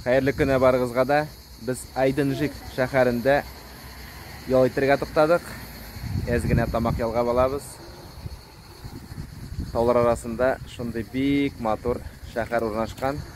Хәерле көне барыгызга да. Без Айдынжик шәһәрендә ял итәргә туктадык. Әз генә тамак ялгап алабыз. Таулар арасында шундый бик матур шәһәр урнашкан.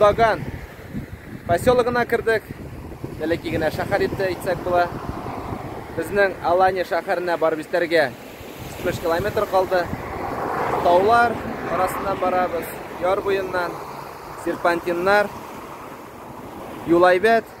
Боздаган поселогына кердек. Бәләки генә шәһәр итте әйтсәк була. Безнең Алания шәһәренә барып җитәргә 35 километр калды. Таулар арасыннан барабыз, яр буеннан, серпантиннар, юлайбәт.